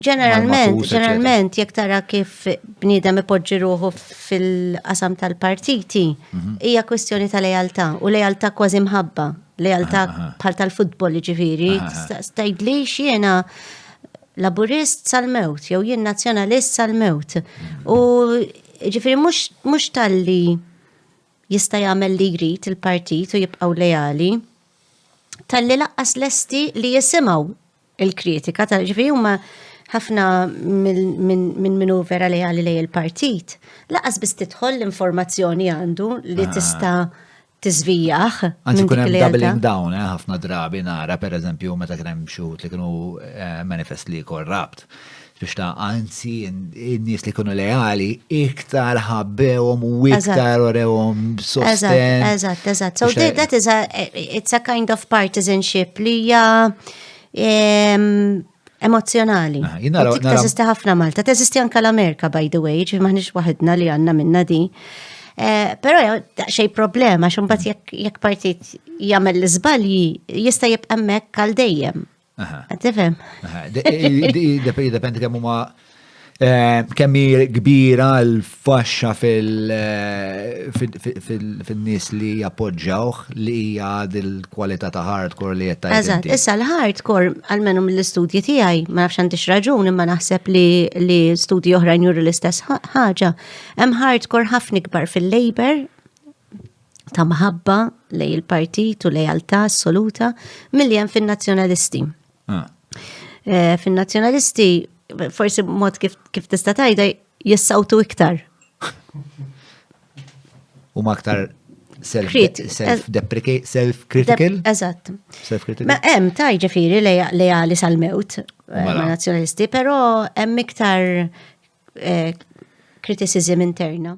Ġeneralment, ġeneralment, jekk tara kif bniedem ipoġġi ruħu fil-qasam tal-partiti, mhm. hija kwestjoni ta' lejaltà u lejaltà kważi mħabba, lejaltà ah, ah, ah. bħal tal-futbol ġifiri, stajdli xiena laburist sal-mewt, jew jien nazzjonalist sal-mewt. Mhm. U ġifiri mhux tal-li jista' jagħmel li jrid il-partit u jibqgħu leali, tal-li laqqas lesti li jisimgħu il-kritika ta' ġifieri huma ħafna minn minu vera li għalli lej il-partit, laqas biss tidħol l-informazzjoni għandu li ah. tista' tiżvijaħ. Anzi, kun hemm doubling down, eh, ħafna drabi nara, per eżempju, meta kien hemm xut li kienu eh, manifest li korrapt. Biex ta' anzi, n-nies li kunu leali, iktar ħabbewhom u iktar orewhom sosten. Eżatt, eżatt. So that is a, it's a kind of partisanship li hija emozjonali. Ah, jina Teżisti ħafna Malta, teżisti anka l-Amerika, by the way, ġi maħnix waħedna li għanna minna di. Eh, Pero xej problema, xumbat jekk partit jagħmel l-iżbalji jista' jibqa' hemmhekk għal dejjem. Għatifem. Dependi kemm huma eh, kemm kbira l-faxxa eh, fil-nies li jappoġġawh li hija dil-kwalità ta' hardcore li qed tajt. Eżatt, issa l-hardcore għalmenu mill-istudji tiegħi, ma nafx għandix raġun imma naħseb li studji oħrajn juru l-istess ħaġa. Hemm hardcore ħafna ikbar fil-labor ta' mħabba lej il-partit u lejaltà assoluta milli hemm fin-nazzjonalisti. Ah. Eh, fin-nazzjonalisti forsi mod kif, kif tista' tajda jissawtu iktar. U ma aktar self-deprecating, self-critical? Eżatt. Self-critical. Ma hemm taj ġifiri lejali sal-mewt eh, ma' mela. nazjonalisti, pero hemm iktar eh, criticism interna.